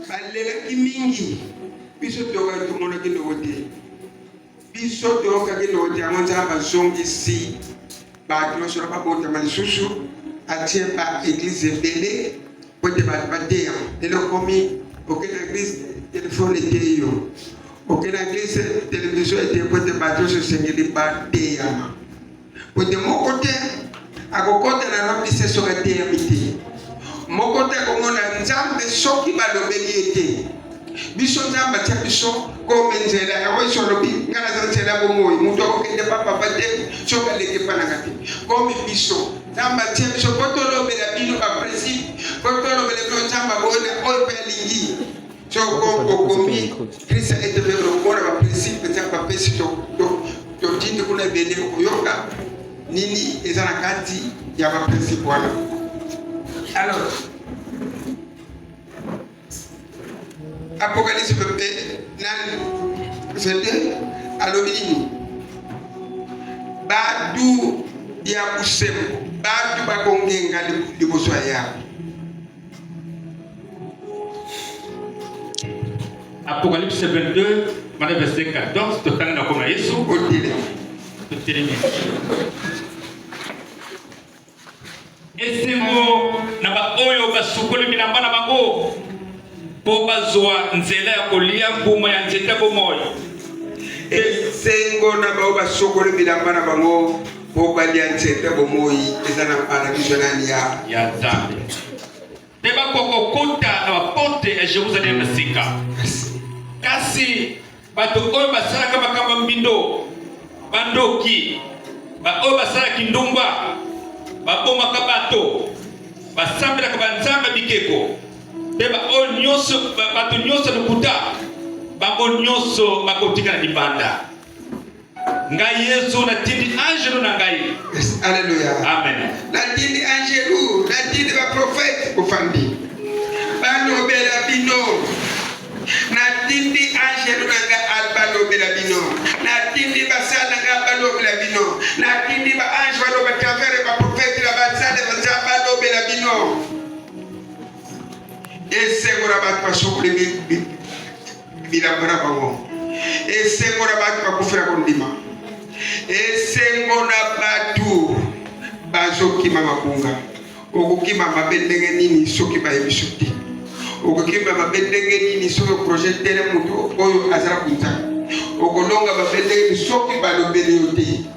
balelaki mingi biso toyokaki tomonaki ndoko te biso toyokaki ndoko te yango nzambe azongisi bato nyonso na babotama lisusu atie ba eglize ebele po ete bato bateya lelo okomi oke na eglize telefone eteyi yo oke na eglize televizio eteyi po ete bato nyonso esengeli bateyama Pote moko te akokota na ramdise soki ateyami te moko te akomona nzambe soki balobeli ye te biso nzambe atya biso kome nzela yango yesu alobi ngai naza nzela bomoi moto akokende pa papa te soki aleki epa nanga te kome biso nzambe atya biso po tolobela bino baprincipe po tolobela bino nzambe abona oyo mpe alingi Tshoko okomi Christ etebe lokola ba principe eza ba pesi to to to tindi kuna ebele okoyoka nini eza na kati ya ba principe wana alors apocalypse mpe nani sete alobi nini batu ya bosembo batu bakongenga liboso ya yabo Apocalypse 22, verset 14, totanga na kona Yesu. Totelemi. esengo na baoyo basukoli bilamba na bango mpo bazwa nzela ya kolia mbuma ya nzete bomoi esengo na baoyo basukoli bilamba na bango Mpo balia nzete bomoi eza na paradiso nani ya ya Nzambe nde bakokokota na baporte ya Jerusalem na sika. Kasi bato oyo basalaka makambo ya mbindo, bandoki, baoyo basalaki ndumba, babomaka bato, basambelaka banzambe bikeko, mpe baoyo nyonso bato nyonso lokuta, bango nyonso bakotikala libanda. ngai yesu natindi angelu na ngai yes, alleluya amen natindi angelu natindi baprofete ofandi balobela bino natindi angelu na ngai balobela bino natindi basala na ngai balobela bino natindi baange baloba travere baprofete na basale baza balobela bino esengo na bato basokoli bilamba na bango esengo na bato bakufela kondima esengo na bato bazokima mabunga okokima mabe ndenge nini soki bayebiso te okokima mabe ndenge nini soki oproje tele moto oyo azala kunza okolonga mabe ndenge nini soki balobeli yo te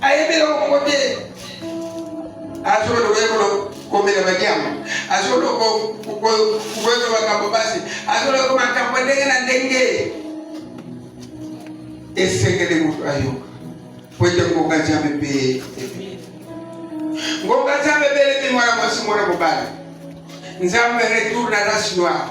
ayebi eloko moko te azoloba ekolo komela badiango azoloba koyeba makambo basi azoloba makambo ndenge na ndenge esengeli moto ayoka po ete ngonga nzambe mpe ebele ngonga nzambe ebelemi mwana mwasi mwana mobali nzambe retour na race noire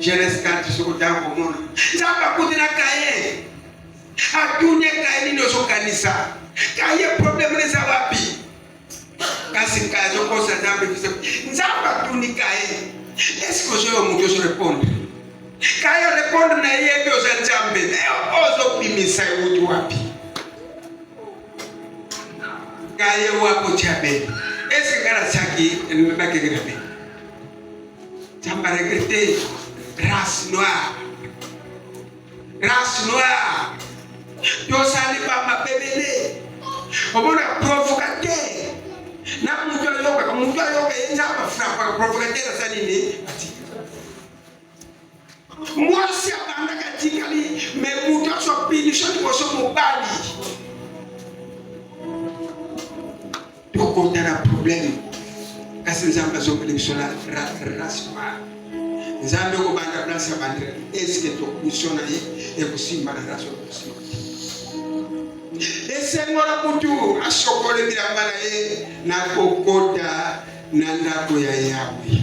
Genese 4 soki otanga komona nzambe akuti na kaye atuni kaye nini ozokanisa kaye probleme eza wapi kasi kaye azokosa nzambe biso nzambe atuni kaye eske ozoyo moto ozorepondre kaye orepondre na yeyebi oza nzambe ozobimisa ewuti wapi kaye wako tya bene eske ngai nasaki elobaki ngai na bene Nzambe ba regrette race noire. Race noire. Tosali ba mabebele. Omona provocateur. Na mutu ayoka, mutu ayoka ye nzambe afrapa provocateur asali nini? Mwasi abandaka atikali me moto aso pinisho liboso mobali. Tokonda na probleme kasi Nzambe azongeli biso na rasma. Nzambe kobanda place ya bandela eske tokuso na ye ekosimba na raso ekosimba esengo na kutu asokole bilamba na ye na kokota na ndako ya Yawe.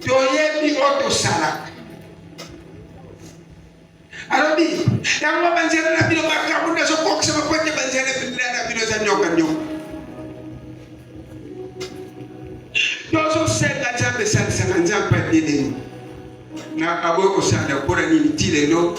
toyebi oyo tosalaka alobi yango banzela na bino makambo nazokokisa mpo ete banzela na bino eza nyoka nyoka tozosenga nzambe esalisaka nzambe adelemi na aboyi kosala mpo na nini ti lelo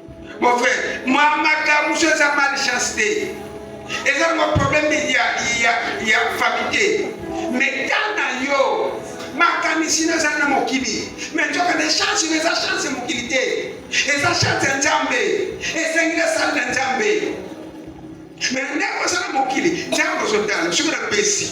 Mon frère, moi, madame, je suis mal chancé. Et là, mon problème, il y a, il y a, il y a famille. Mais quand dans yo, makanisi na ezali na mokili me nzoka na echange na eza chance ya mokili te eza chance ya nzambe esengi na sali na nzambe me ndenge oza na mokili nzambe ozotala soki na pesi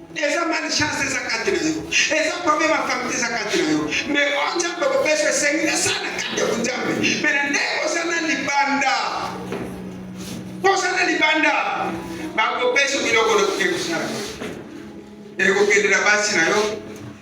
eza malchance eza kati na yo eza problème ya famille eza kati na yo me o oh, nzambe kopesa esengi na sana kati ya bonzambe me na ndenge oza na libanda oza na libanda bakopesa biloko na koke kosala ekokendela basi na yo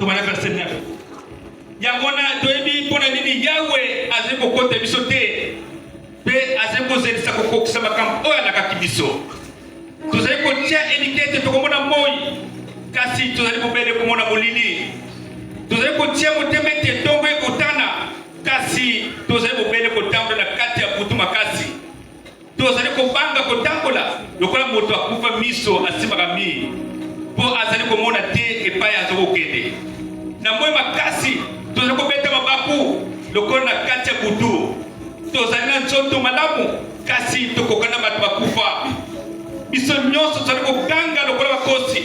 Tomana verse 9. Yango wana toyebi mpo na nini Yawe azali kokota biso te mpe azali kozelisa kokokisa makambo oyo alakaki biso. Tozali kotya elikya ete tokomona moi, kasi tozali bobele komona molili. Tozali kotya motema ete ntongo ekotana, kasi tozali bobele kotambola na kati ya butu makasi. tozali kobanga kotambola lokola moto akufa miso asimbaka mi mpo azali komona te epai aza kokende na moi makasi tozali kobeta mabaku lokola na kati ya butu tozali na nzoto malamu kasi tokokana na bato bakufa biso nyonso tozali koganga lokola bakosi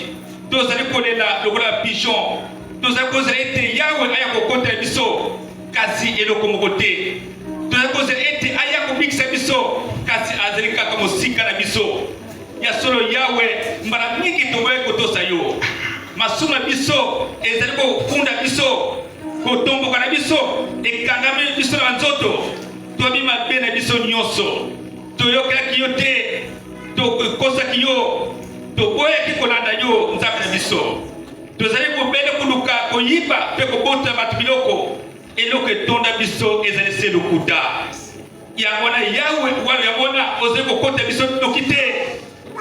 tozali kolela lokola bapigeon tozali kozela ete yawe aya kokota ya biso kasi eloko moko te tozali kozela ete aya kobikisa biso kasi azali kaka mosika na biso ya solo yawe mbala mingi toboyaki kotosa yo masumu na biso ezali kokunda biso kotomboka na biso ekangami biso na nzoto toyebi mabe na biso nyonso toyokelaki yo te tokosaki yo toboyaki kolanda yo nzambe na biso Tozali bobele koluka koyiba mpe kobota bato biloko. Eloko etonda biso ezali se lokuta. Yango wana Yawe wana yango wana ozali kokota biso noki te,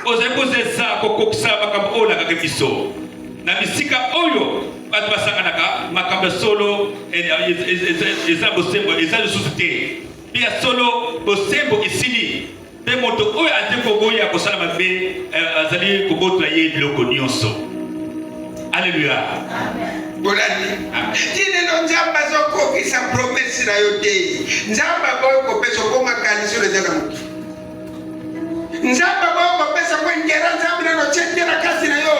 ozali kozesa kokokisa makambo oyo olakaki biso na bisika oyo bato basanganaka. Makambo ya solo eza bosembo, eza lisusu te mpe ya solo bosembo esili Mpe moto oyo azali koboya kosala mabe eh, azali kobotla ye biloko nyonso. Aleluya. bolandi ti lelo nzambe azokokisa promese na yo te nzambe aboyi kopesa okoma kanisi oyo eza na moki nzambe aboyi kopesa ko intera nzambe nano tie te na kasi na yo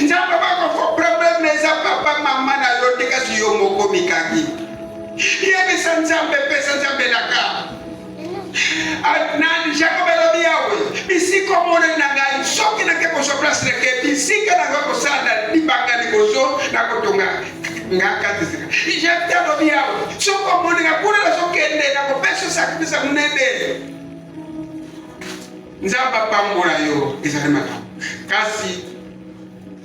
nzambe aboyi kofo probleme na eza papa mama na yo te kasi yo moko mikangi yebisa nzambe pesa nzambe elaka nani jakob elobi yawe bisika omonani na ngai soki nake kozwa place nake bisika na ngai kosala libanga liboso na kotonga ngakatizika jefte alobi yawe soki omonaka kuna nazokende na kopesa sakrifisa monene nzambe apambola yo ezali makambo kasi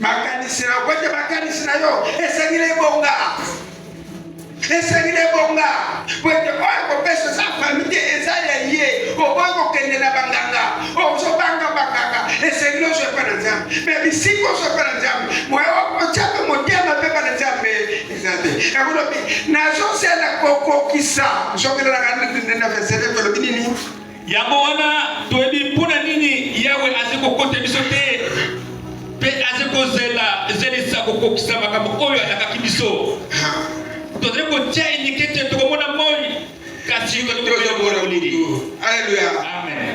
makanisi na kwete makanisi na yo esengi na ebonga esengi na ebonga kwete oyo kopesa eza fami te eza ya ye okoki kokende na banganga ozobanga banganga esengi na ozwa epai na nzambe me bisika ozwa epai na nzambe moye okotya mpe motema mpe epai na nzambe eza te ekolobi nazozela kokokisa nzokelelaka nde na vesele ekolobi nini Yango wana toyebi mpo na nini Yawe azi kokota biso te mpe azi kozela zelisa kokokisa makambo oyo alakaki biso. Tozali kotya eliki ete tokomona moi, kasi tokoyokola molili. Aleluya, amen.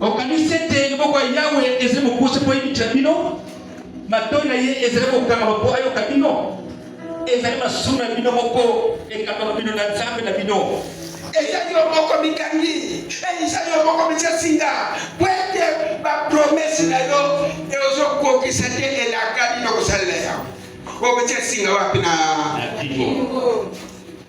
okanisi ete liboko ya yawe ezali mokuse mpo eyebikisa bino matoi na ye ezali kokangama mpo ayoka bino ezali masumu na bino moko ekangama bino na nzambe na bino ezali yo moko mikangi ezali yo moko misasinga po ete bapromese na yo eozokokisa te elaka bino kosalela yango obetya singa wapi na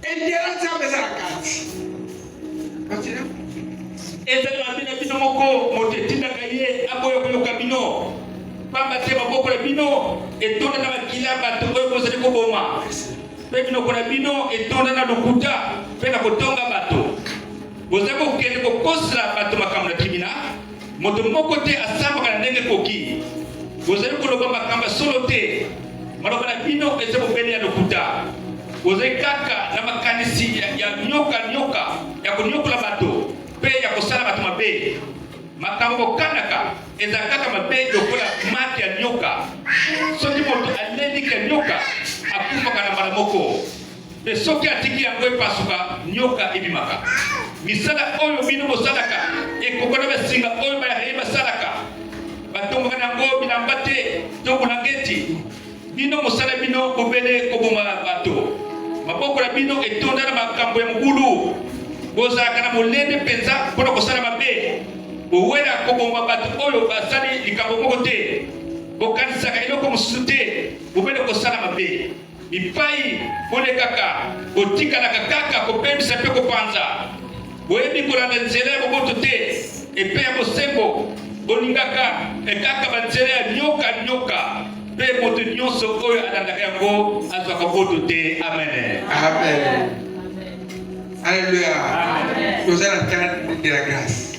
Intérêt nzambe eza na kati. Continue. Eza na bino bino moko moto etindaka ye aboya koyoka bino. Pamba te maboko na bino etonda na makila bato oyo bozali koboma. Mpe minoko na bino etonda na lokuta mpe na kotonga bato. Bozali kokende kokosela bato makambo na kimina Moto moko te asambaka na ndenge ekoki. Bozali koloba makambo ya solo te. Maloba na bino eza bobele ya lokuta. Bozali kaka na makanisi ya nyoka nyoka ya konyokola bato mpe ya kosala bato mabe. Makambo bokanaka eza kaka mabe lokola mate ya nyoka. Soki moto aleliki ya nyoka, akufaka na mbala moko. Mpe soki atiki yango epasuka, nyoka ebimaka. Misala oyo bino bosalaka ekokana na singa oyo Bayaheyi basalaka. Batongaka na yango bilamba te to bulangeti. Bino mosala bino bobele koboma bato. Maboko na bino etonda na makambo ya mobulu. Bozalaka na molende mpenza mpo na kosala mabe. Bowela koboma bato oyo basali likambo moko te. Bokanisaka eloko mosusu te bobele kosala mabe. bipai bolekaka botikalaka kaka kobebisa mpe kopanza boyebi kolanda nzela ya boboto te epe ya bosembo bolingaka ekaka banzela ya nyoka nyoka mpe moto nyonso oyo alandaka yango azwaka boto te amen amen alleluia toza na temps de la grâce